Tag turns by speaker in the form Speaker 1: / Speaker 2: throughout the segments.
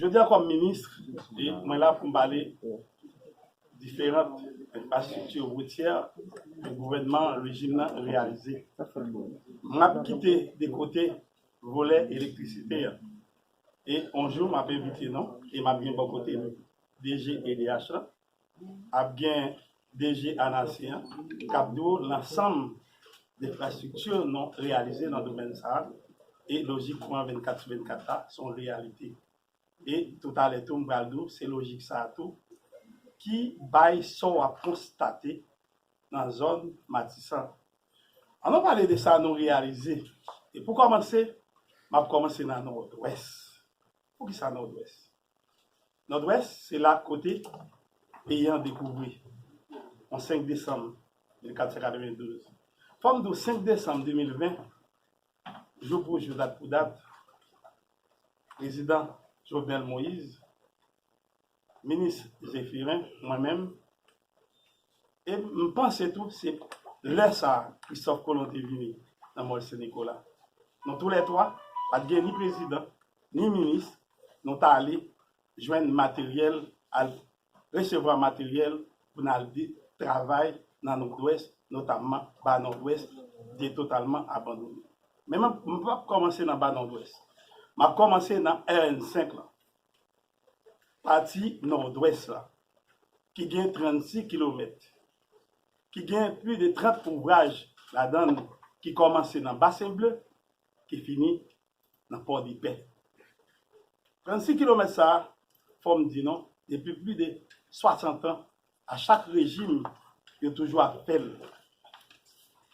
Speaker 1: Jodi a kòm ministre, mwen la pou m pale diferant enfrastrikti woutyè ke gouvènman rejim nan reyalize. M ap kite de kote volè elektrisite a e yon jou m ap envite nou e m ap gen bò kote m DG edh la ap gen DG ANASI an k ap di w lansanm enfrastrikti nou reyalize nan domèn sa a e lojik kouran 24 sou 24 la se yon reyalite. E toutalè tou m pral di w se lojik sa a tou ki bay sa w ap konstate nan zòn Matisan. An nou pale de sa nou reyalize e pou kòmanse m ap kòmanse nan Nòdwès. Poukisa Nòdwès? Nòdwès se la kote peyi an dekouvri on 5 desanm 1492. Fò m di w 5 desanm 2020, jou pou jou dat pou dat, prezidan Jovenel Moïse, minis Zephirin, mwen menm, E m panse tou se lè sa a Kristòf Kolon te vini nan Mòl Sen Nikola. Nou tou lè twa, pa t gen ni prezidan, ni minis, nou t ale jwenn materyèl, al resevwa materyèl pou n al travay nan Nòdwès, notamman Ba Nòdwès te totalman abandone. Men m pap kòmanse nan Ba Nòdwès. M ap kòmanse nan RN 5 lan. pati nòdwès la, ki gen 36 kilomèt, ki gen plis de 30 ouvraj ladan l ki kòmanse nan Basen Ble, ki fini nan Pòdepè. 36 kilomèt sa a, fò m di nou, depi plis de 60 an, a chak rejim, yo toujou ap fè l.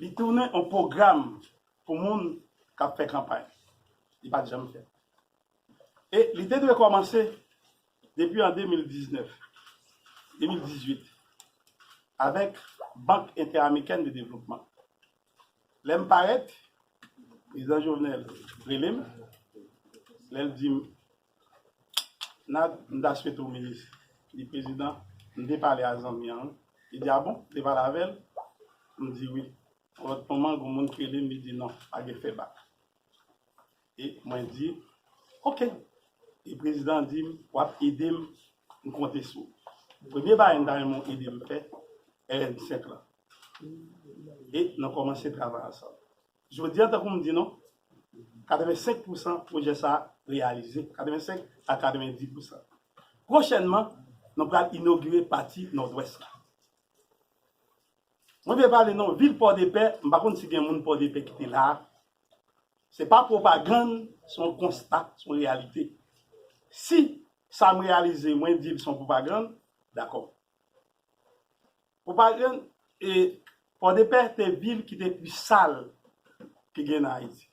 Speaker 1: Li tounen yon pwogram pou moun k ap fè kanpay. Li pa t janm fèt. E li te dwe kòmanse depi an 2019, 2018 avèk Bank Entè-Amikèn de Devlopman. Lè m parèt, Prezidan Jovenel rele m, lè l di m, Nad, m ta swete w minis. M di, Prezidan, m te pale a zanmi an wi. Li di, A bon? Ou te pale avè l? M di, Wi. Yon lòt moman, gen yon moun ki rele m, li di, Non, pa gen fè bak. E mwen di, ok. E prezidan an di m, w ap ede m, m konte sou ou. Premye bagay m ta renmen w ede m fè, RN5 lan. E nou kòmanse travay ansanm. Jodi a, tankou m di nou, 85 pousan pwojè sa a reyalize, 85 a 90 pousan. Pwochènman, nou pral inogire pati Nòdwès la. Mwen te pale non vil pòdepè, m pa konn si gen moun pòdepè ki te la a. Se pa pwopagann, se yon konsta, se yon reyalite. Si sa m reyalize mwen di l se yon pwopagann, dakò. Pwopagann, e pòdepè te vil ki te pi sal ki gen nan Ayiti.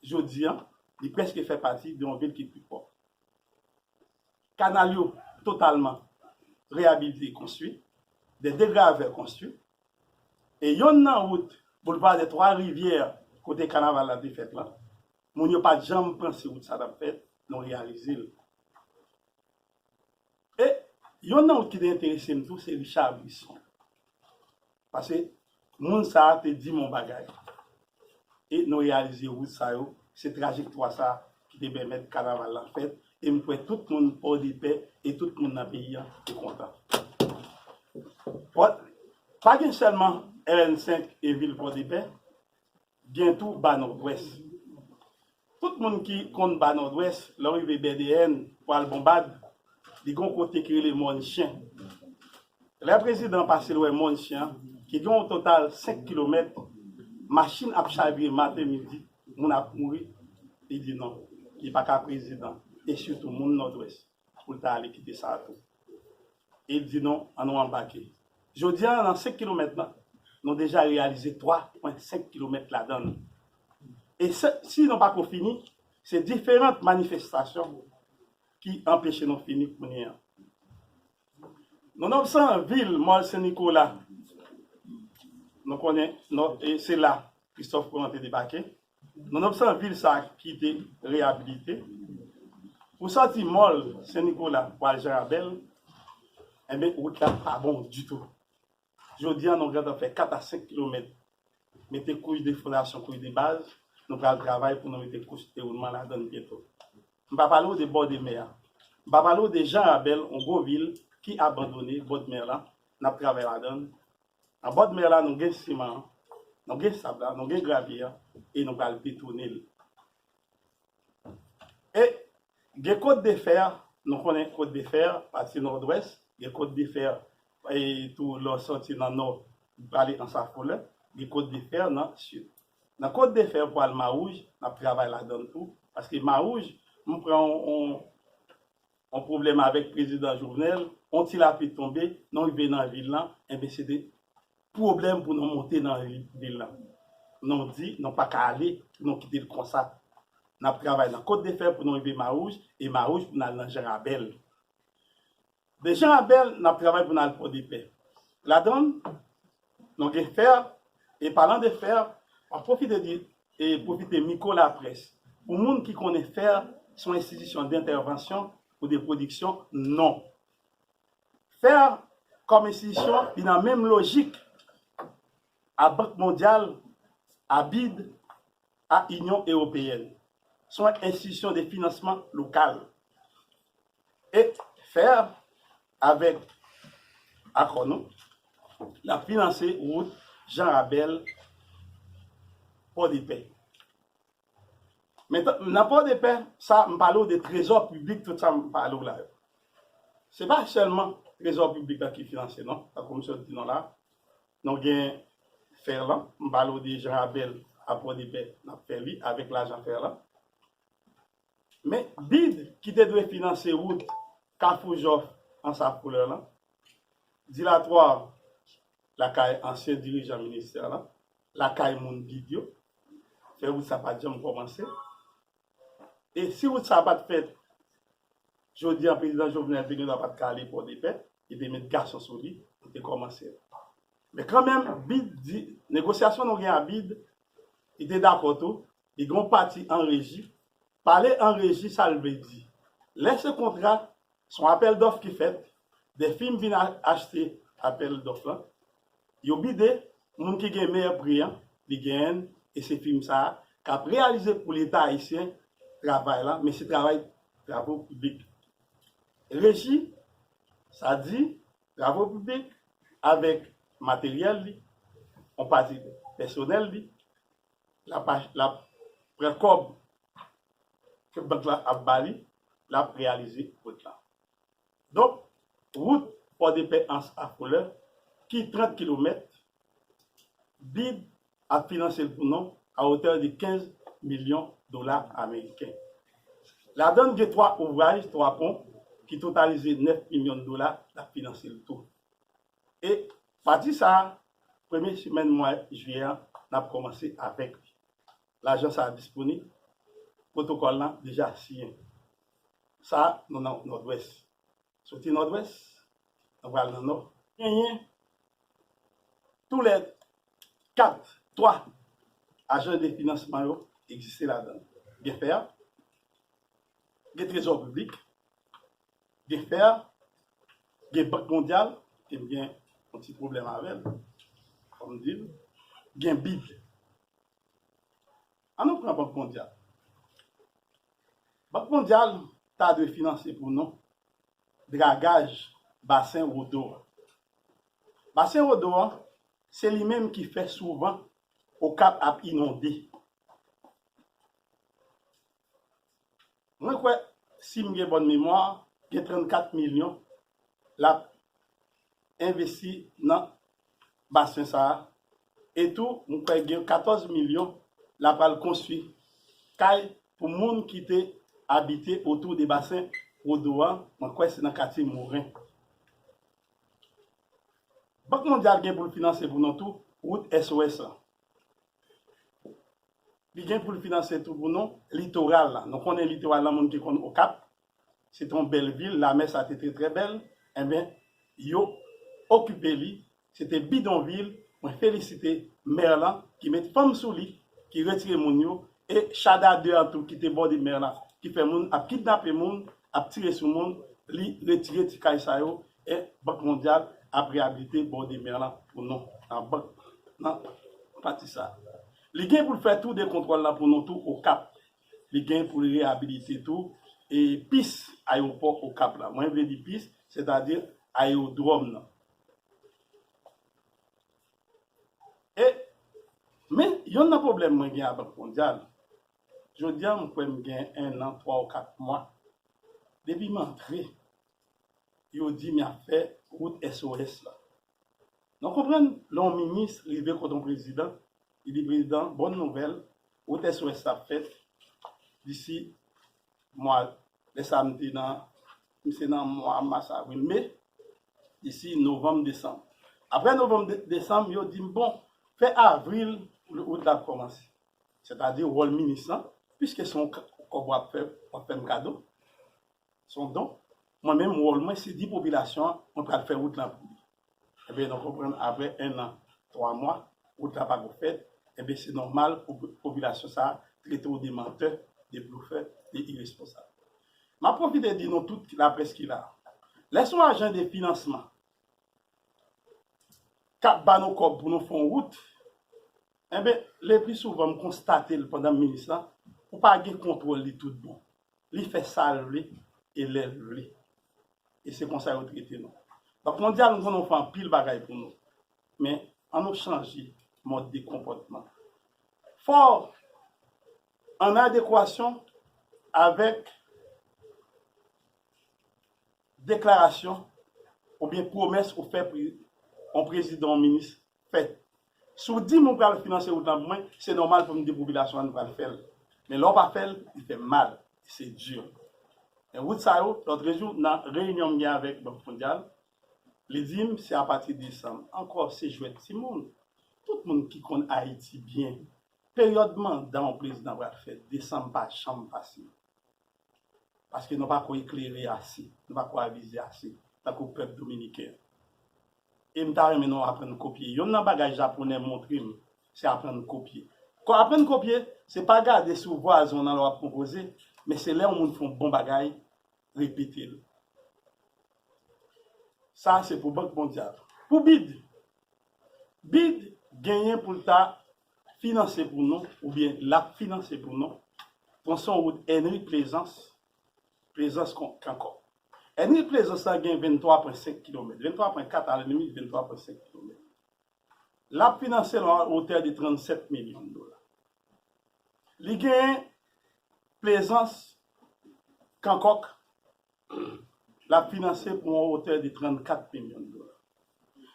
Speaker 1: jodi a, li prèske fè pati de yon vil ki pi pwòp. Kanal yo totalman reyabilite e konstwi, de degravè konstwi, e yonn nan wout Boulevard des Trois Rivières kote kanaval la te fèt lan, moun yo pa t janm panse wout sa t ap fèt, nou reyalize l. E yonn nan wout ki te enterese m tou se Richard Brisson. Pase moun sa a te di m yon bagay, e nou reyalize wout sa yo, se trajektwa sa a ki te pèmèt kanaval lan fèt, e m kwè tout moun Pòdepè e tout moun nan peyi an te kontan. Pa gen sèlman rn5 e vil Pòdepè. Gen tou Ba Nòdwès. Tout moun ki konn Ba Nòdwès, lè w rive BDN pou al Bonbad, li gen yon kote ki rele Mòn Chen. Lè prezidan pase l wè Mòn Chen an, ki gen yon total 5 kilomèt, machin ap chavire maten midi, moun ap mouri, li di non, li pa ka prezidan, e sitou moun Nòdwès. Pou l ta ale kite sa a tou. E l di nou, an nou anbake. Jodi a, nan senk kilomèt lan, nou deja reyalize twa pwen senk kilomèt ladan l. E si nou pa ko fini, se diferant manifestasyon ki anpeche nou fini kounye a. Nou nan san vil Mòl Sen Nikola, nou konnen se la Kristòf Kolon te debake. Nou nan san vil sa ki te reyabilite. Ou santi mòl Sen Nikola pou al Janrabèl, enben wout la pa bon ditou. Jodi a nou gentan fè 4 a 5 kilomèt mete kouch de fondasyon, kouch de baz, nou pral travay pou nou mete kouch dewoulman ladan l byento. M pa pale w de bò de mè a. M pa pale w de Janrabèl, yon gwo vil ki abandone, bòdmè lan, n ap travay ladan l. Nan bòd mè la nou gen siman an, nou gen sab la, nou gen gravye an e nou pral pitouni l. E gen Côte de Fer, nou konnen Côte de Fer, pati nòdwès, gen Côte de Fer e tou lè w soti nan nò prale an Safolè, gen Côte de Fer nan sid. Nan Côte de Fer pou al Mawouj, n ap travay ladan l tou paske Mawouj, m pran yon yon pwoblèm avèk prezidan Jovenel, yon ti lapli tonbe, nou rive nan vil lan, enben se te pwoblèm pou nou monte nan vil lan. Nou di nou pa ka ale pou nou kite l konsa. N ap travay nan Kotdefè pou nou rive Mawouj, e Mawouj pou n al nan Janrabèl. De Janrabèl, n ap travay pou n al Pòdepè. Ladann, Nou gen fè, e palan de fè, map pwofite di e pwofite miko laprès pou moun ki konnen fè son enstitisyon dentèvansyon ou de pwodiksyon, non. Fè kòm enstitisyon li nan menm lojik a Bank Mondyal, a bid, a Inyon Ewopeyèn sou ak enstitisyon de finansman lokal, et fer, avèk akò nou, l ap finanse wout Jan Rabèl, Pòdepè. Men, nan Pòdepè, sa m pale w de trezò piblik, tout sa m pale w la yo, se pa sèlman trezò piblik la ki finanse non, tankou m sot di nou la a. Non gen Ferland m pale w de Jean Abel a Pòdepè n ap fè li avèk lajan Ferland. Men bid ki te dwe finanse wout Kafou Jòf Ansav Koulè lan, dilatwa lakay ansyen dirijan ministè lan, lakay moun bid yo, fè wout sa pa t janm kòmanse. E si wout sa a pa t fèt Jodi an prezidan Jovenel te gendwa pat ka ale Pòdepè, yo te met gason sou li, yo te kòmanse. Men kanmenm BID di, negosyasyon nou gen a BID, li te dakò tou, li gen yon pati an reji, pale an reji sa l vle di? Lè se kontra, se yon apèl dòf ki fèt, 2 fim vin achte apèl dòf lan, Yo bide moun ki gen meyè pri an li genyenn e se fim sa kap reyalize pou leta ayisyen travay lan mesi travay bravo piblik reji sa di bravo piblik avek materyel li on pati pèsonel li lap achte lap pran kob ke bank lan ap bali lap reyalize kot lan. Donk, wout Pòdepè ans a Koulè ki 30 kilomèt, bid ap finanse l pou nou a hauteur de 15 milyon dola ameriken. Ladann gen 3 ouvraj, 3 pon ki totalize 9 milyon dola l ap finanse l tou. E pati sa a, premye semèn mwa jiyè an n ap kòmanse avèk li. Lajan sa a disponib, pwotokòl lan deja siyen. Sa a, nou nan Nòdwès. Soti Nòdwès, nou pral nan Nò. Genyen tou lè 4, 3 ajan de finansman yo egziste ladan. Gen fer, gen trezò piblik, gen fer, gen Bank Mondyal, ke m gen yon ti pwoblèm avè l, fò m di l, gen bid. An nou pran Bank Mondyal. Bank Mondyal ta dwe finanse pou nou dragaj basen Wodo a. Basen Wodo a, se li menm ki fè souvan Okap ap inonde. Mwen kwè si m gen bòn memwa gen 34 milyon l ap envesti nan basen sa a e tou m kwè gen 14 milyon l ap al konstwi kay pou moun ki te abite otou de basen Wodo an, mwen kwè se nan katye Moren. Bank Mondyal gen pou l finanse pou nou tou wout SOS lan. Li gen pou l finanse tou pou nou litoral la. Nou konnen litoral la moun ki konn Okap, se te yon bèl vil, lamè sa te trè trè bèl, enben yo okipe li, se te bidonvil, mwen felisite mè lan ki met fanm sou li, ki retire moun yo, e chada 2 an tou ki te bòde mè la, ki fè moun ap kidnape moun, ap tire sou moun, li retire ti kay sa yo, E Bank Mondyal ap reyabilite Bord de Mer lan pou nou nan bank nan pati sa a. Li gen pou l fè tou de kontwòl lan pou nou tou Okap. Li gen pou l reyabilite tou e pis ayewopò Okap la. Mwen vle di pis, sètadi ayewodwòm nan. E Men, yonn nan pwoblèm mwen gen a Bank Mondyal, jodi a m kwè m gen ennan twa ou kat mwa depi m antre yo dim yap fè wout SOS la. Nou konprann lè yon minis rive kot yon prezidan, li di prezidan bòn nouvèl wout SOS la ap fèt disi mwa lè sa m te nan m se nan mwa mas avril me disi novanm desanm. Aprè novanm desanm yo dim bon fè avril pou wout la ap kòmanse. Sètadi wòl minis lan piske se yon kòb wap fè wap fè m kado Se yon don. Mwen menm wòl mwen se di popilasyon an mwen pral fè wout lan pou li. Enben nou konprann aprè 1 an 3 mwa wout la pako fèt, enben se nòmal pou popilasyon sa trete w de mantè, de blofè, de iresponsab. Map pwofite di nou tout laprès ki la, lè son ajan de finansman kap ba nou kòb pou nou fon wout, enben le pli souvan m konstate l pandan m minis la, ou pa gen kontwòl li tout bon. li fè sa l vle e lè l vle. E se konsa yo trete nou. Bank Mondyal, m konnen ou fè anpil bagay pou nou. Men, an nou chanje mòd de konpòtman. Fò an adekwasyon avèk deklarasyon oubyen pwomès ou fè pou yon prezidan, yon minis, fèt. Si w di m ou pral finanse wout lan pou mwen, se nòmal pou m di popilasyon an nou pral fè l. Men lè w pa fè l, li fè mal, se di. Men wout sa yo, lòtrejou nan reyinyon m gen avèk Bank Mondyal, li di m se apati desanm. Ankò, se jwèt timoun. Tout moun ki konn Ayiti byen, peryòd manda yon prezidan pral fèt, desanm pa janm pase. paske nou pako eklere ase, nou pako avize ase tankou pèp dominiken an. E m ta renmen nou aprann kopye. Yonn nan bagay japonè montre m, se aprann kopye. Aprann kopye, se pa gade sou vwazon nan lè w ap konpoze, men se lè yon moun fè yon bon bagay, repete l. Sa a se pou Bank Mondyal. Pou bid, bid genyen pou l ta finanse pou nou oubyen l ap finanse pou nou, pran son wout Ènri Plezans, Plezans kankò. Ènri Plezans la gen 23 pwen 5 kilomèt, 23 pwen 4 a la limit, 23 pwen 5 kilomèt. L ap finanse l a wotè de 37 milyon dola. Li genyen Plezans, Kankòk. lap finanse pou yon otè de 34 milyon de dola.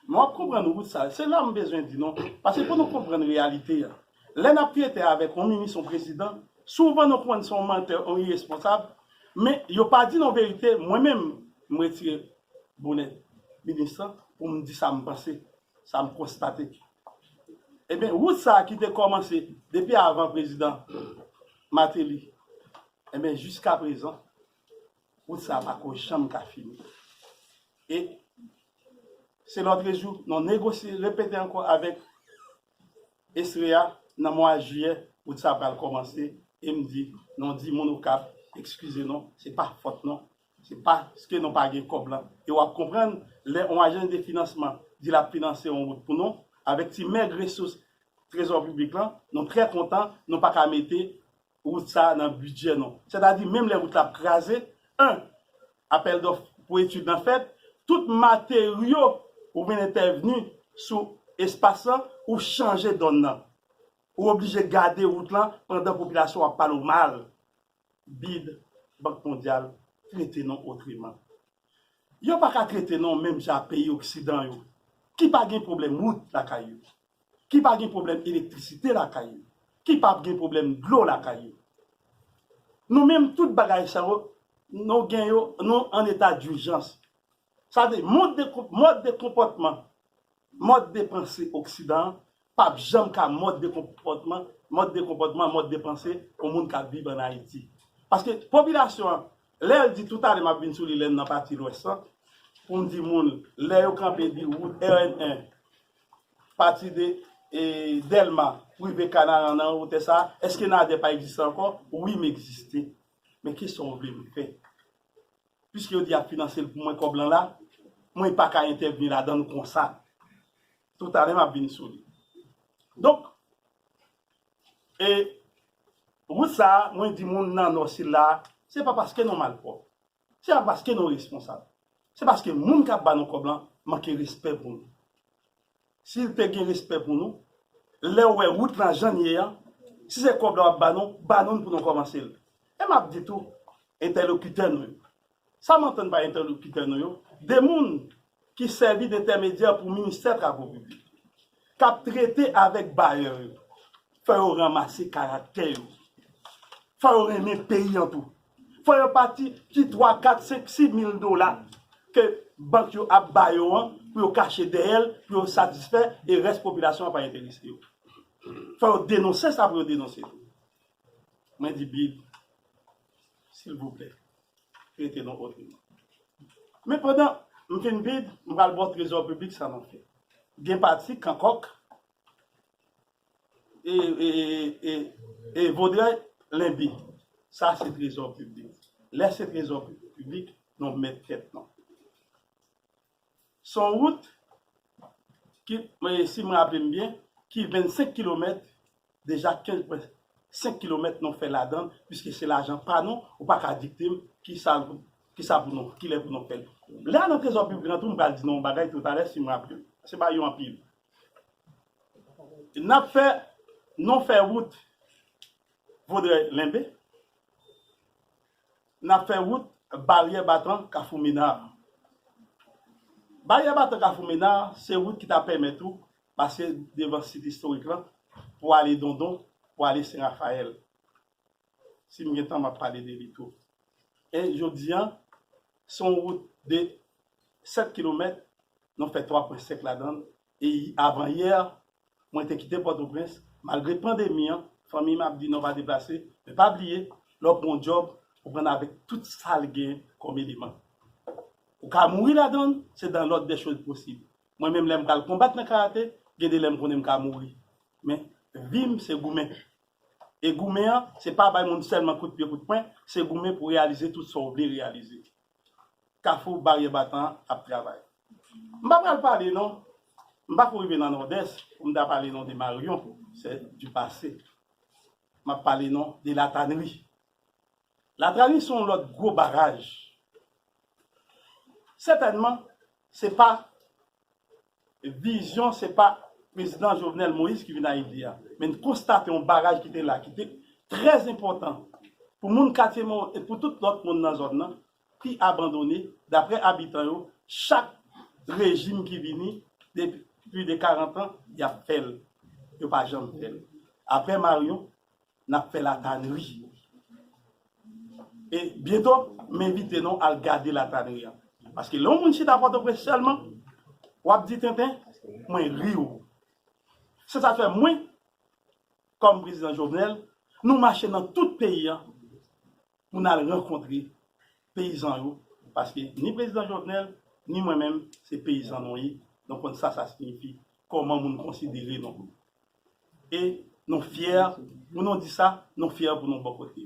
Speaker 1: Men wap konprann wout sa, se la m bezwen di nou, pase pou nou konprann reyalite a, lè nap trete avèk yon minis, yon prezidan, souvan nou konprann se yon mantè, yon iresponsab, men yo pa di nou verite, mwen menm m retire bonè minis lan pou m di sa m panse, sa m konstate. Enben wout sa ki te kòmanse depi avan prezidan Mateli, enben jiskaprezan Wout sa pako janm ka fini. E se lòtrejou nou negosye, repete ankò avèk Estrella nan mwa jiyè wout sa pral kòmanse e m di nou di moun Okap ekskize nou se pa fòt nou, se paske nou pa gen kòb lan. E w ap konprann lè yon ajans de finansman di l ap finanse yon wout pou nou avèk ti mèg resous trezò piblik lan, nou trè kontan nou pa ka mete Wout sa a nan bidjè nou. Sètadi menm lè wout la ap kraze, 1. Apèl dòf pou etid lan fèt, tout materyo pou vin entèvni sou espas lan ou chanje dòn nan. Ou oblije gade wout lan pandan popilasyon an ap pale w mal. Bid, Bank Mondyal, trete nou otreman. Yo pa ka trete nou menm jan ak peyi oksidan yo ki pa gen pwoblèm wout lakay yo. ki pa gen pwoblèm elektrisite lakay yo, ki pap gen pwoblèm dlo lakay yo. Nou menm tout bagay sa yo nou gen yo nou an eta durjans. Sa vle di mond de mòd de konpòtman, mòd de panse oksidan an pap janm ka mòd de konpòtman, mòd de konpòtman, mòd de panse yon moun kap viv an Ayiti. Paske popilasyon an lè l di toutalè map vin sou li lè m nan pati lwès lan pou m di moun lè yo kanpe di wout rn 1, Pati de Dèlma pou rive Kanaran nan wotè sa a, èske Nadè pa egziste ankò? Wi, m egziste. Men ki sa w vle m fè? Piske yo di y ap finanse l pou mwen kòb lan la, mwen pa ka entèvni ladan l konsa. Toutalè m ap vin sou li. Donk, e wout sa a, mwen di moun nan Nò sila a, se pa paske nou malpwòp. Se pa paske nou responsab. Se paske moun k ap ba nou kòb lan manke respè pou nou. Si l te gen respè pou nou, lè w wè wout lan jan l ye an, si se kòb la w ap ba nou, ba nou l pou nou kòmanse l. E m ap di tou entèlokitè nou yo, sa m antann pa entèlokitè nou yo, de moun ki sèvi dentèmedyè pou Ministè Travo Piblik, k ap trete avèk bayè yo, fò yo ranmase karaktè yo, fò yo renmen peyi an tou, fò yo pa ti ti twa, kat, senk, si mil dola ke bank yo ap ba yo an pou yo kache dèyè l, pou yo satisfè e rès popilasyon an pa enterese yo. Fò yo denonse sa pou yo denonse tou. Mwen di big. silvouplè trete nou otreman. Men pandan m fin vid, m pral ba w trezò piblik sa nou fè. Gen pati Kankòk e Vodrèy Lenbi. Sa se trezò piblik. Lè se trezò piblik, nou mèt tèt nou. S on wout ki, si m raple m byen, ki 25 kilomèt, deja 15 pwen 5 kilomèt nou fè ladan l, piske se lajan pa nou, ou pa ka dikte m ki sa l, ki sa pou nou, ki lè pou nou fè l. Lè a nan trezò piblik lan tou m pral di nou yon bagay toutalè si m raple m, se pa yo anpil. N ap fè, nou fè wout Vodrèy Lenbe. N ap fè wout Baryè Batan Kafou Mena a. Baryè Batan Kafou Mena a se wout ki ta pèmèt ou pase devan sit istorik lan pou ale Dondon, pou ale Sen Rafayèl. Si m gen tan m ap pale de li tou. E jodi an, se yon wout de 7 kilomèt, nou fè 3 pwen sèk ladan l Avan yè, mwen te kite Pòtoprens. Malgre pandemi an, fanmiy m ap di non pa deplase. Men pa bliye, lè w pran yon djòb, ou pran l avèk tout sa l gen kòm eleman. Ou ka mouri ladan l, se dans l'ordre des choses posib. Mwen menm lè m pral konbat nan karate, gen de lè m konnen m ka mouri. Men, vi m se goumen. E goumen an, se pa bay moun sèlman kout pye, kout pwen, se goumen pou reyalize tout sa w vle reyalize. kafou baryè batan an ap travay. M pa pral pale non, m pa ko rive nan Nòdès pou m ta pale non de Marion, sè di pase. M ap pale non de Latanri. Latrani se yon lòt gwo baraj. Sètènman, se pa Vizyon se pa Prezidan Jovenel Moïse ki vin Ayiti a, men n konstate yon baraj ki te la, ki te trè enpòtan pou moun katye mwen yo e pou tout lòt moun nan zòn nan ki abandone, daprè abitan yo, chak rejim ki vini depi pli de karantan y ap fè l, yo pa janm fè l. Aprè Marion, Nap fè la tannerie wi. E byento m envite nou al gade la tannerie an. Paske lè yon moun chita pòtoprens sèlman wap di tenten mwen ri w. Se sak fè mwen kòm prezidan Jovenel nou mache nan tout peyi an. pou n al rankontre peyizan yo paske ni prezidan Jovenel ni mwen menm se peyizan nou ye nou konn sa sa siyifi kòman moun konsidere nou e nou fyè pou nou di sa nou fyè pou nou bò kote.